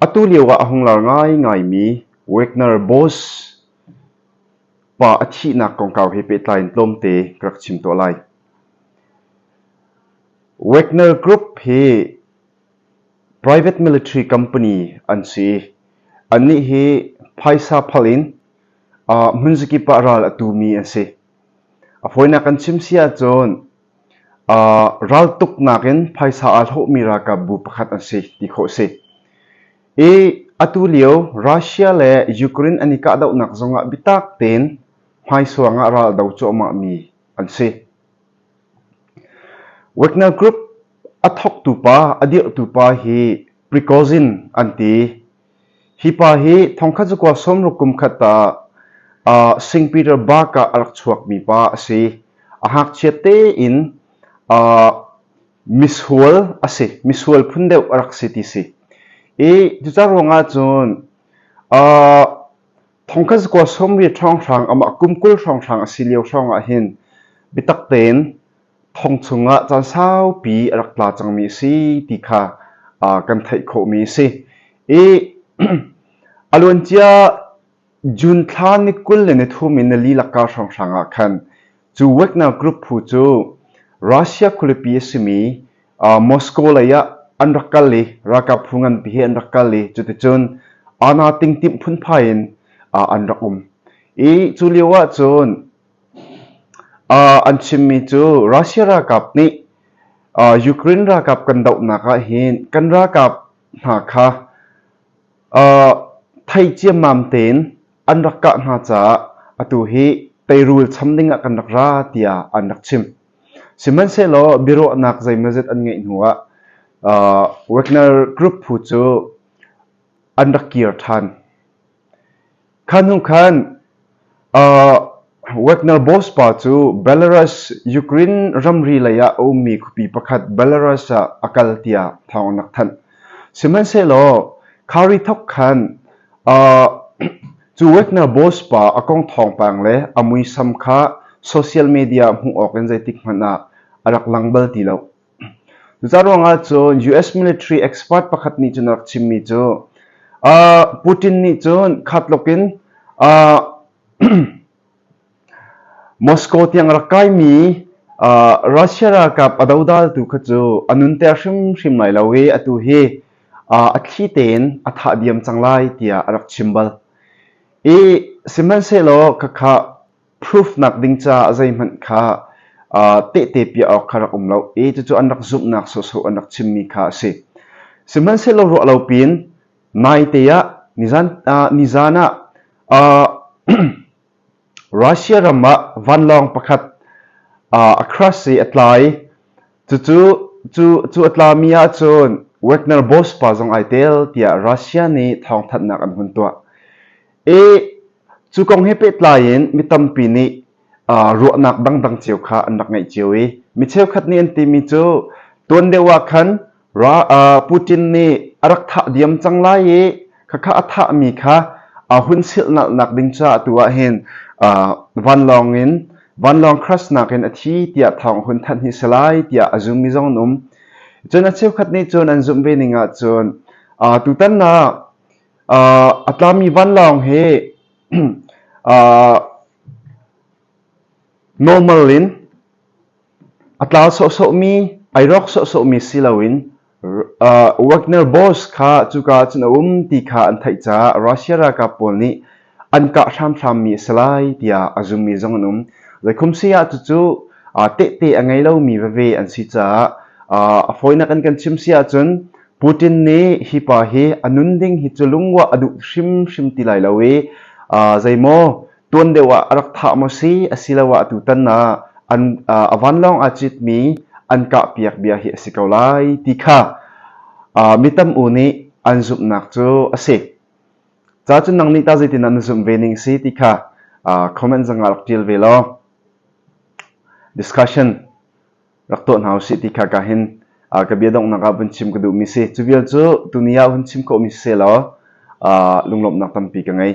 Atu lioah a hung lar ngaingaimi Wagner Boss pa a thihnak kongkau he pehtlai in tlawmte ka rak chim tuah lai. Wagner Group hi private military company an si. Annih hi phaisa phal in uh, hmunzakip ah ral a tumi an si. A fawinak kan chim si ahcun Raltuknak in phaisa aa hlawhmi ralkapbu pakhat an si ti khawh a si. I atulio Russia le Ukraine an i kahdohnak zongah bitak tein hmaisuang ah ral do cuahmahmi an si. Wagner Group a thawktu pa, a dirhtu pa hi Prigozhin an ti. Hi pa hi thongkhat cakuak sawmruk kum khat ah St. Peter Burg ah a rak chuakmi pa a si. A ngakchiat tein misual a si. Misual phun deuh a rak si ti si. I cucar ruangah cun thongkhat cakuak sawmri ṭhawnghrang amah kum kul hrawnghrang a si lio hrawngah hin biatak tein thong chungah caan saupi a rak tla cangmi a si ti kha kan theih khawhmi a si. I a luancia June thla ni kul le ni thum in na lilak ka hrawnghrang ah khan cu Wagner group phu cu Russia khualipi a simi Moscow lei ah an rak kal i ralkap phu ngan pi hi an rak kal i cuticun ana ting timh phunphai in an rak um. I cu lio ah cun An chimmi cu Russia ralkap nih Ukraine ralkap kan dohnak ahhin kan ralkap hna kha thei ciammam tein an rak kah hna caah atu hi teirul cham dingah kan rak ra tiah an rak chim. Sihmanhsehlaw biaruahnak zeimazet an ngeih hnuah Wagner group phu cu an rak kir ṭhan. Kha hnu khan Wagner boss pa cu Belarus Ukraine ramri lei ah a ummi khuapi pakhat Belarus ah a kal tiah thawng an rak thanh. Sihmanhsehlaw khari thok khan cu Wagner boss pa a kong thawngpang le a muisam kha social media hmuh awk in zeitik hmanh ah a rak lang bal ti lo. Zaruangah cun US military expert pakhat nih cun a rak chimmi cu Putin nih cun khatluk in Moscow tiang a rak kaimi Russia ralkap a dodaltu kha cu a nunter hrimhrim lai lo i atu hi a thli tein a thah diam cang lai tiah a rak chim bal. I sihmanhsehlaw khakha proof nakding ca zeihmanh kha tehte piah awk kha rak um lo i cucu an rak zumhnak sawhsawh an rak chimmi kha a si. Sihmanhsehlaw ruah lo pin naite ah nizan, uh, nizan ah uh, Russia ram ah vanlawng pakhat uh, a crash i a tlai. Cucu cu cu a tlami ahcun Wagner boss pa zong ai tel tiah Russia nih thawngthanhnak an hun tuah. I Cu kong he pehtlai in mi tampi nih ruahnak dangdang cio kha an rak ngeih cio i mi cheukhat nih an timi cu tuan deuh ah khan Putin nih a rak thah diam cang lai i khakha a thahmi kha hun silhnalhnak ding caah atu ah hin vanlawng in vanlawng crashnak in a thi tiah thawng hun thanh hi si lai tiah a zummi zong an um. Cun a cheukhat nih cun an zumh ve ning ahcun tutan ah A tlami vanlawng hi normal in a tlau sawhsawhmi, ai rawk sawhsawhmi si loin Wagner boss kha cuka ah cun a um ti kha an theih caah Russia ralkap pawl nih an kah hramhrammi a si lai tiah a zummi zong an um. Zeikhum saya cucu tehte a ngei lomi veve an si caah a fawinak an kan chim si ahcun Putin nih hi pa hi a nun ding hi cu lungwah a duh hrimhrim ti lai lo i zeimaw tuan deuh ah a rak thah maw si asiloah tutan ah an a vanlawng aa citmi an kah piak bia hi a si ko lai ti kha mi tam u nih an zumhnak cu a si. Ca cu nang nih tah zeitindah na zumh ve ning si ti kha comment zangah rak ṭial ve law discussion rak tuah hna usih ti kha ka hin ka bia donghnak ah vun chim ka duhmi si cu vial cu tuni ah vun chim khawhmi si law lunglawmhnak tampi ka ngei